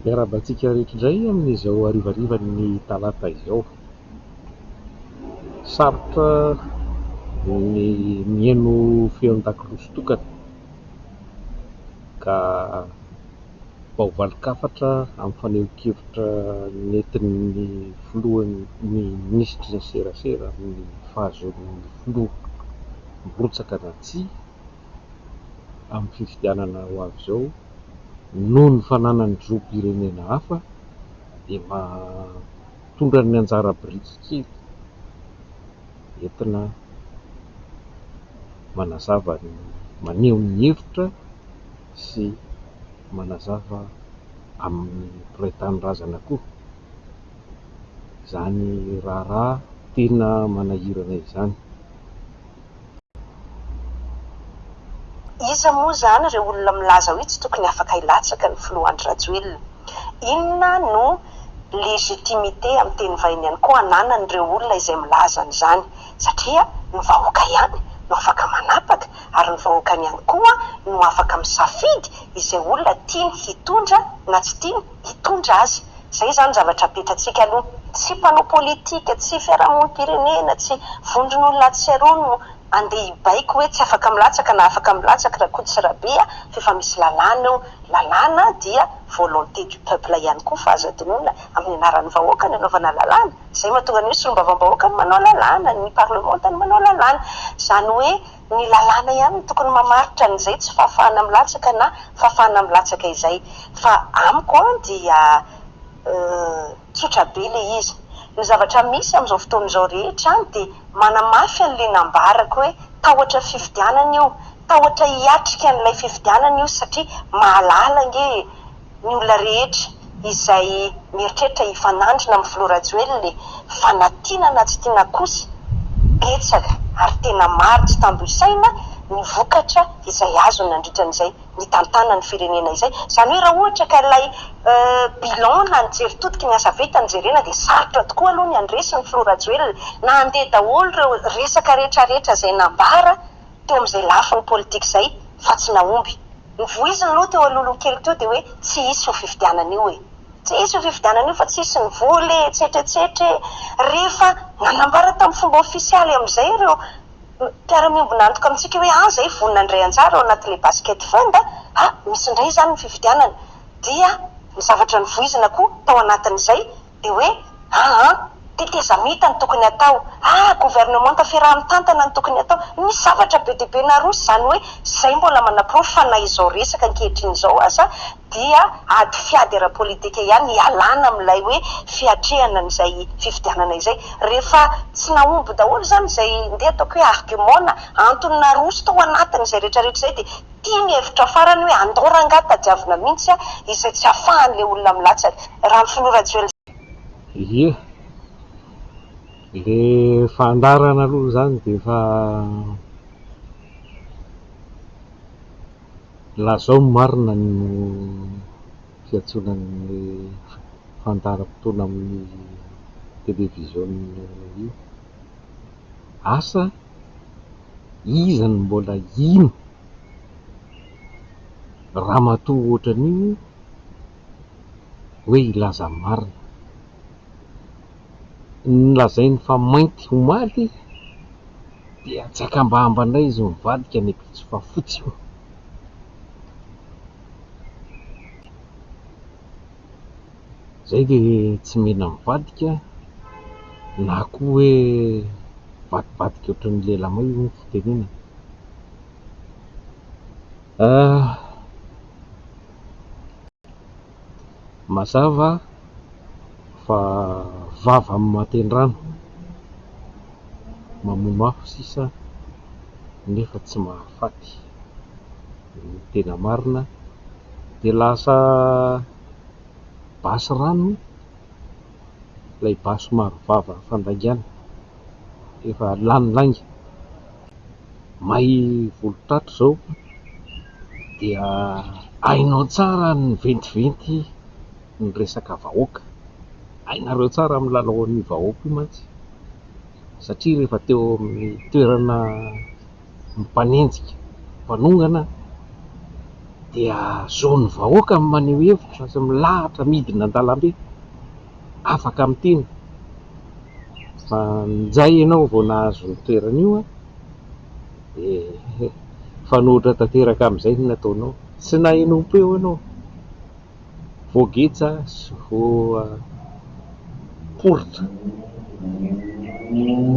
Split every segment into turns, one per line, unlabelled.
Miarahaba antsika rehetra indray amin'izao harivarivan'ny talata izao. Sarotra ny mihaino feon-dakilasy tokana ka vao valin-kafatra amin'ny fanehoan-kevitra nentin'ny filohan'ny minisitry ny serasera amin'ny fahazoan'ny filoha mirotsaka na tsia. amin'ny fifidianana ho avy izao noho ny fananany zom-pirenena hafa dia mba tondrany ny anjara biriky kely entina manazava ny maneho ny hevitra sy manazava amin'ny mpiray tanindrazana koa izany raharaha tena manahirana izany.
Iza moa izany ireo olona milaza hoe tsy tokony afaka hilatsaka ny filoha Andry Rajoelina? Inona no légitimité amin'ny teny vahiny ihany koa ananan'ireo olona izay milaza an'izany? Satria ny vahoaka ihany no afaka manapaka ary ny vahoakany ihany koa no afaka misafidy izay olona tiany hitondra na tsy tiany hitondra azy. Izay izany zavatra petratsika aloha. Tsy mpanao politika, tsy fiarahamonim-pirenena, tsy vondron'olona ahatsiaroany no andeha hibaiko hoe tsy afaka milatsaka na afaka milatsaka Rakoto sy Rabe a! fa efa misy lalàna eo. Lalàna dia volonté du peuple ihany koa fa azo adinoina amin'ny anaran'ny vahoaka ny anaovana lalàna. Izay mahatonga ny hoe solombavambahoaka no manao lalàna, ny parlemanta no manao lalàna. Izany hoe. Ny lalàna ihany no tokony mamaritra an'izay tsy fahafahana milatsaka na fahafahana milatsaka izay. Fa amiko an dia tsotra be ilay izy. Ny zavatra misy amin'izao fotoana izao rehetra an dia manamafy an'ilay nambarako hoe tahotra fifidianana io, tahotra hiatrika an'ilay fifidianana io satria mahalala ange e! ny olona rehetra izay mieritreritra hifanandrina amin'ny filoha Rajoelina e! Fa na tiana na tsy tiana kosa, betsaka ary tena maro tsy tambo isaina ny vokatra izay azony nandritra an'izay nitantanany ny firenena izay. Izany hoe raha ohatra ka ilay bilan na ny jery totiky ny asa vita no jerena dia sarotra tokoa aloha ny handresy ny filoha Rajoelina na handeha daholo ireo resaka rehetrarehetra izay nambara teo amin'izay lafiny politika izay fa tsy nahomby. Ny voiziny aloha teo Alolo kely teo dia hoe tsy hisy io fifidianana io e! Tsy hisy io fifidianana io fa tsy hisy ny vola e! Etsetra etsetra e! Rehefa nanambara tamin'ny fomba ofisialy amin'izay ireo mpiara-miombon'antoka amintsika hoe an! izay vonona handray anjara ao anatin'ilay basket fund a! a! misy indray izany ny fifidianana dia ny zavatra novoizina koa tao anatin'izay dia hoe, aa, tetezamita no tokony hatao, aa, governemanta fiaraha mitantana no tokony hatao, misy zavatra be dia be naroso izany hoe izay mbola manaporofo fa na izao resaka ankehitriny izao aza dia ady fiady ara politika ihany hialana amin'ilay hoe fiatrehana an'izay fifidianana izay rehefa tsy nahomby daholo izany izay ndeha ataoko hoe argument na antony naroso tao anatiny izay rehetra rehetra izay dia Ity ny hevitra farany hoe andao rangah tadiavina mihintsy ah izay tsy afahan le olona milatsaka. Raha ny filoha rajoelina.
Ie, le fandarana aloha zany de efa lazao ny marina ny fiantsoana anle fandaharam-potoana amin'ny television io. Asa? iza no mbola hino ramatoa ohatran'io hoe hilaza ny marina? Ny lazainy fa mainty omaly dia tsy akambahamba indray izy mivadika any Ampitso fa fotsy io. Izay dia tsy mila mivadika na koa hoe mivadibadika ohatran'ny lelamay hoy ny fitenenana. Ah, mazava fa vava amin'ny matendrano, mamono afo sisa nefa tsy mahafaty. Ny tena marina dia lasa. basy rano ilay basy somary vava fandaingana efa lany lainga may volon-tato izao dia hainao tsara ny miventiventy ny resaka vahoaka hainareo tsara amin'ny lalaon'ny vahoaka io mantsy satria rehefa teo amin'ny toerana mpanenjika, mpanongana dia zo ny vahoaka ny maneho hevitra sy milahatra midina an-dalambe, afaka miteny fa njay ianao vao nahazo ny toerana io dia mifanohitra tanteraka amin'izay ny nataonao, tsy naheno ho peo ianao. Voageja sy voaporitra.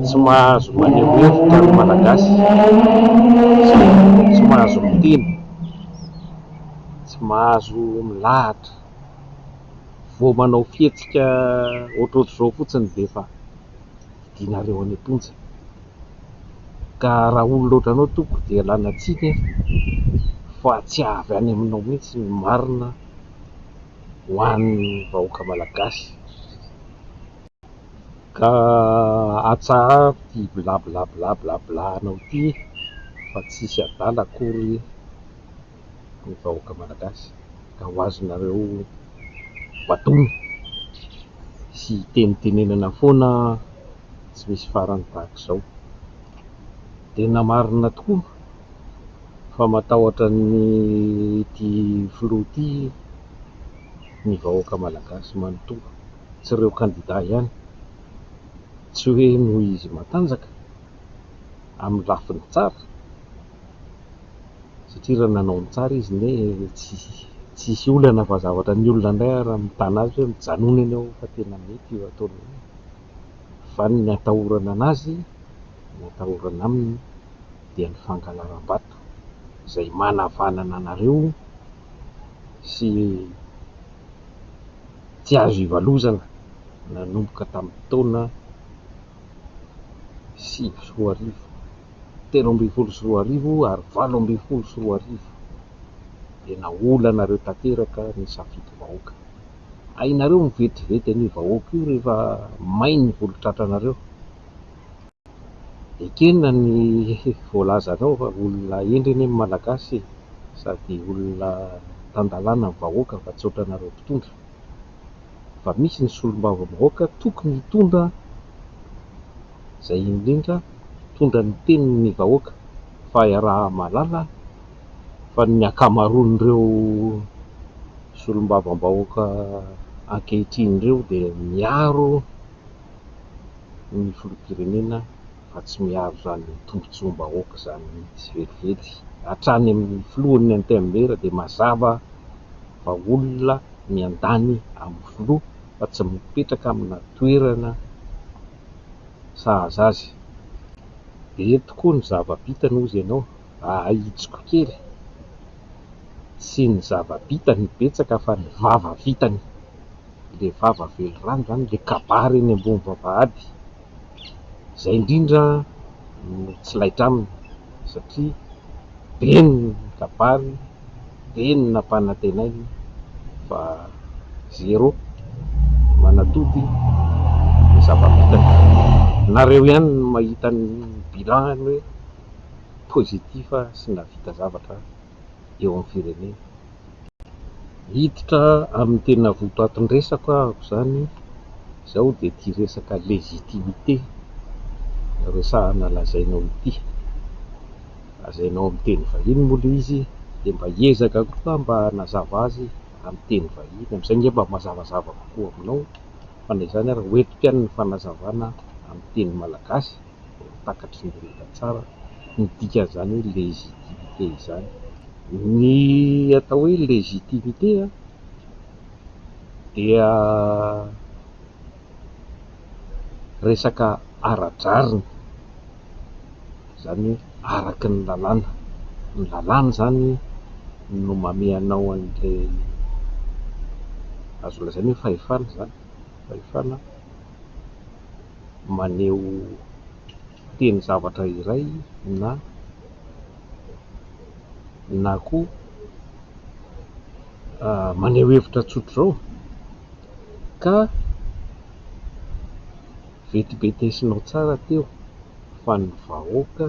Tsy mahazo maneho hevitra ny Malagasy, tsy mahazo miteny, tsy mahazo milahatra. Vao manao fihetsika ohatrohatr'izao fotsiny dia efa hidianareo any am-ponja. ka raha olona ohatranao tompoko dia lana tsiny aho fa tsy avy any aminao mihitsy ny marina ho an'ny vahoaka malagasy ka atsaharo ity blablabla blablabla anao ity fa tsisy adala akory ny vahoaka malagasy ka ho azonareo batoina sy tenitenenana foana tsy misy farany tahaka izao. Tena marina tokoa fa matahotra ny ity filoha ity ny vahoaka malagasy manontolo, tsy ireo kandida ihany, tsy hoe noho izy matanjaka amin'ny lafiny tsara, satria raha nanao ny tsara izy anie tsy tsy hisy olana fa zavatra ny olona indray ary mitana azy hoe mijanona eny aho fa tena mety io ataony io fa ny atahorana anazy ny atahorana aminy dia ny fangalaram-bato izay manavanana anareo sy tsy azo ivalozana nanomboka tamin'ny taona sivy sy roa arivo telo ambin'ny folo sy roa arivo ary valo ambin'ny folo sy roa arivo dia naolanareo tanteraka ny safidy vahoaka. Hainareo mivetivety an'io vahoaka io rehefa may ny volon-tratranareo. Ekena ny voalazanao fa olona hendry anie ny Malagasy e, sady olona tan-dalàna ny vahoaka fa tsy ohatranareo mpitondra. Efa misy ny solombavambahoaka tokony hitondra. izay indrindra mitondra ny tenin'ny vahoaka fa iaraha-mahalala fa ny ankamaroan'ireo solombavambahoaka ankehitriny ireo dia miaro ny filoham-pirenena fa tsy miaro izany tombotsoam-bahoaka izany mihitsy velively hatrany amin'ny filohan'ny antenimiera dia mazava fa olona miandany amin'ny filoha fa tsy mipetraka amina toerana sahaza azy. Be tokoa ny zava-bitany hozy ianao, ahitsiko kely. Tsy ny zava-bitany no betsaka fa ny vava vitany. Ilay vava velirano izany, ilay kabary eny ambony vavahady. Izay indrindra no tsy laitra aminy satria. be ny kabary, be ny nampanantenainy fa zéro manatody ny zava-bitany. Nareo ihany no mahita ny bilan-ny hoe positif sy nahavita zavatra eo amin'ny firenena. Hiditra amin'ny tena votoatin-dresako aho amin'izany, izao dia ity resaka légitimité resahana lazainao ity. Lazainao amin'ny teny vahiny moa ilay izy dia mba hiezaka koa aho mba hanazava azy amin'ny teny vahiny, amin'izay ange mba mazavazava kokoa aminao fa na izany ary ho entiko ihany ny fanazavana amin'ny teny malagasy. dia takatry ny rehetra tsara ny dikan'izany hoe légitimité izany. Ny atao hoe légitimité dia resaka ara-drariny, izany hoe araky ny lalàna, ny lalàna izany no mamehy anao an'ilay azo lazaina hoe fahefana izany, fahefana. maneho teny zavatra iray na na koa maneho hevitra tsotra izao ka vetibetesinao tsara teo fa ny vahoaka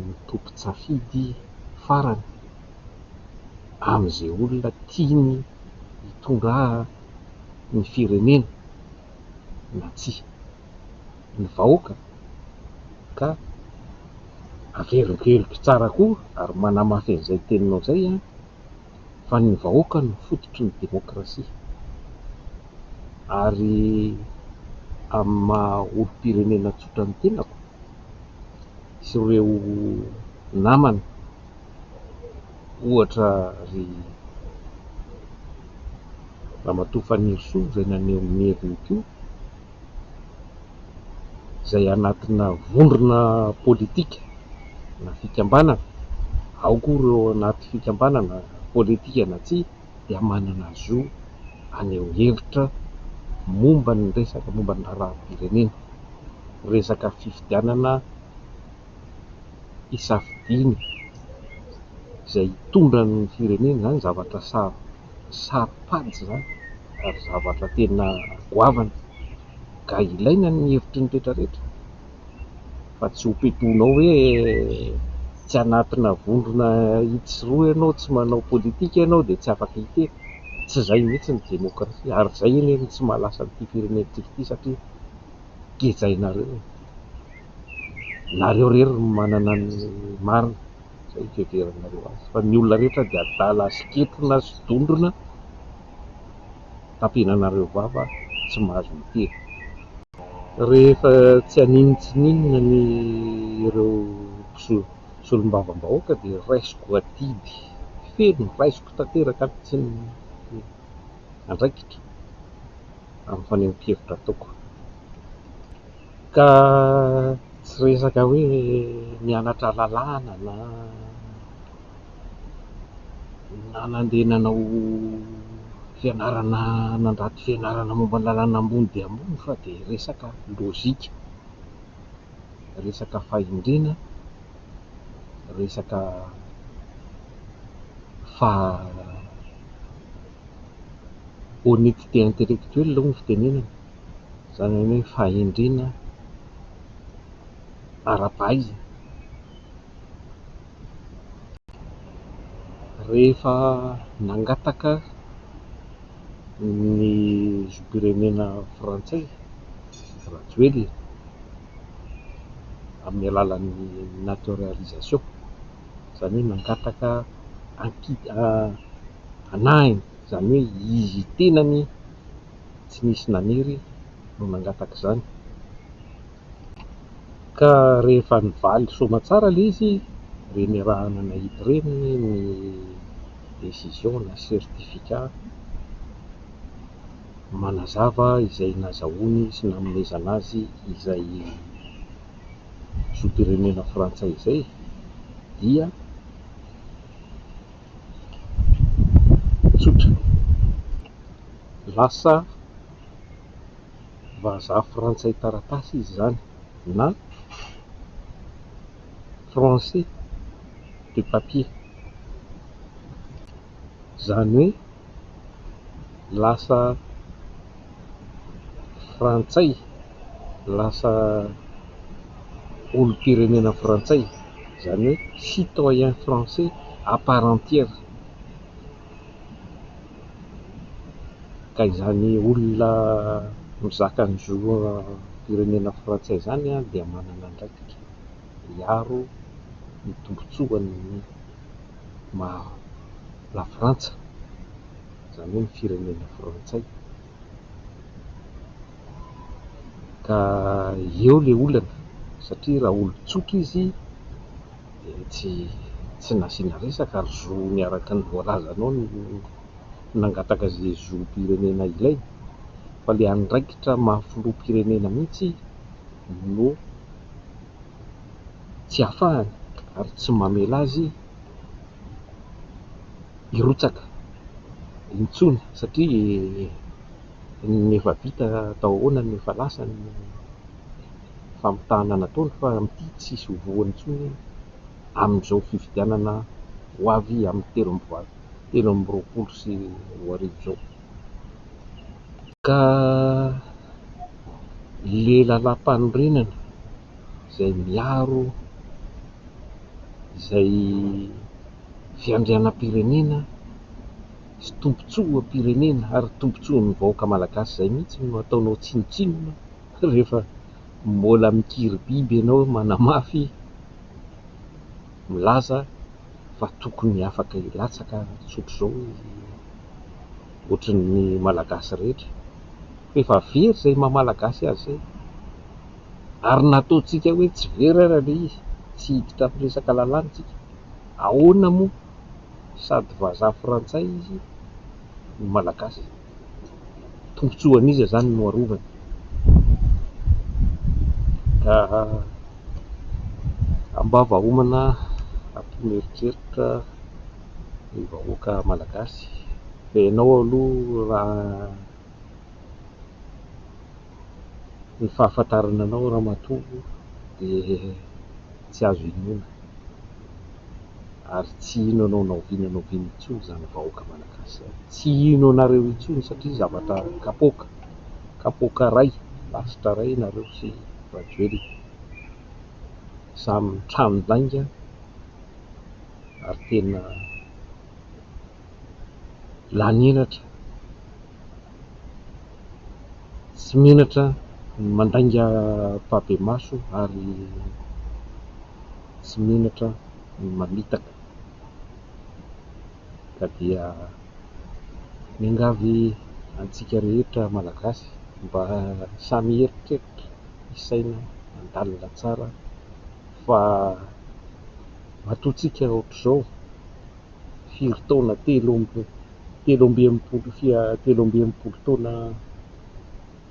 no tompon-tsafidy farany amin'izay olona tiany hitondrany firenena. na tsia ny vahoaka ka averiko heloky tsara koa ary manamafy an'izay teninao izay an, fa ny vahoaka no fototry ny demokrasia ary amin'ny maha olom-pirenena tsotra ny tenako sy ireo namana. ohatra ry ramatoa Fanirisoa izay naneho ny heviny koa, izay anatina vondrona politika na fikambanana, ao koa ireo anaty fikambanana politika na tsia dia manana zo haneho hevitra momba ny resaka momba ny raharaham-pirenena, resaka fifidianana. hisafidiana izay hitondra ny firenena, izany zavatra saro saro-pady izany ary zavatra tena goavana ka ilaina ny hevitry ny rehetra rehetra fa tsy ho petoinao hoe tsy anatina vondrona itsy sy roa ianao, tsy manao politika ianao dia tsy afaka hiteny, tsy izay mihitsy ny demokrasia ary izay anie no tsy mahalasa an'ity firenentsika ity satria gejainareo e. nareo rery no manana ny marina zay fiheveranareo azy fa ny olona rehetra dia adala sy ketrona sy dondrona tampenanareo vava tsy mahazo miteny rehefa tsy haninona tsy ninona ny ireo solombavambahoaka dia raisiko adidy feno raisiko tanteraka ny tsy ny andraikitra amin'ny fanehoankevitra ataoko. Ka tsy resaka hoe nianatra lalàna na nandeha nanao fianarana nandrato fianarana momba ny lalàna ambony dia ambony fa dia resaka lojika, resaka fahendrena, resaka faha-honnetité intellectuelle hoy ny fitenenana. izany hoe fahendrena ara-pahaizana. Rehefa nangataka ny zom-pirenena frantsay Rajoelina amin'ny alalan'ny naturalisation, izany hoe nangataka anki- hanahiny, izany hoe izy tenany. tsy nisy naniry no nangataka izany. Ka rehefa nivaly soamatsara ilay izy, dia niarahana nahidy reniny ny décision na certificat manazava izay nazahoany sy nanomezana azy izay zom-pirenena frantsay izay dia. tsotra. Lasa vazaha frantsay taratasy izy izany na français de papier. Izany hoe. lasa frantsay, lasa olom-pirenena frantsay, izany hoe citoyen français à part entière. Ka izany olona mizaka ny zom-pirenena frantsay izany dia manana andraikitra hiaro ny tombontsoan'ny maha lafrantsa. izany hoe ny firenena frantsay, ka eo ilay olana satria raha olon-tsotra izy dia tsy tsy nasiana resaka ary zony araka ny voalazanao no nangataka izay zom-pirenena ilainy fa ilay andraikitra maha filoham-pirenena mihitsy no tsy ahafahany ary tsy mamela azy hirotsaka intsony satria ny efa vita tao ahoana no efa lasa ny famitahana nataony fa amin'ity tsy hisy ho voany intsony amin'izao fifidianana ho avy amin'ny telo amby valo telo amby roapolo sy roa arivo izao ka ilay lalàmpanorenana izay miaro izay fiandrianam-pirenena sy tombontsoam-pirenena ary tombontsoan'ny vahoaka malagasy izay mihitsy no ataonao tsinontsinona rehefa mbola mikiribiby ianao manamafy milaza fa tokony afaka hilatsaka tsotr'izao ohatran'ny malagasy rehetra fa efa very izay maha malagasy azy izay ary nataontsika hoe tsy very ara ilay izy, tsy hiditra amin'ny resaka lalàna isika, ahoana moa sady vazaha frantsay izy no malagasy? Tombotsoa an'iza izany no arovany? Ka ambava homana ampino eritreritra ny vahoaka malagasy fa ianao aloha raha Ny fahafantarana anao ramatoa dia tsy azo inoana ary tsy hino anao na oviana na oviana intsony izany vahoaka malagasy izany. Tsy hino anareo intsony satria zavatra kapoaka, kapoaka iray, lasitra iray nareo sy Rajoelina. Samy trano lainga ary tena. lanin'atra tsy menatra mandainga mpabemaso ary tsy menatra ny mamitaka ka dia miangavy antsika rehetra malagasy mba samy hieritreritra hisaina handalina tsara fa matoa tsika ohatr'izao firy taona telo amby telo amby enimpolo sy telo amby enimpolo taona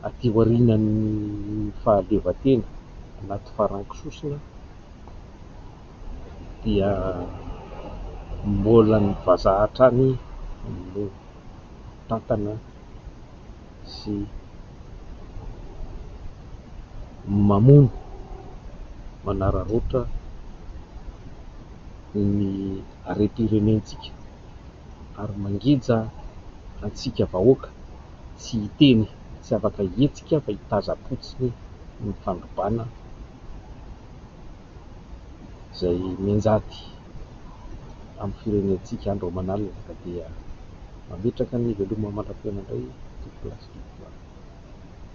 aty aorianan'ny fahaleovantena anaty farango sosona dia mbola ny vazaha hatrany no tantana sy mamono manararaotra ny harem-pirenentsika ary mangeja antsika vahoaka tsy hiteny, tsy afaka hihetsika fa hitaza-potsiny ny fandrobana. izay mianjady amin'ny firenentsika andro aman'alina ka dia mametraka ny veloma mandra-piaina indray ity plastique.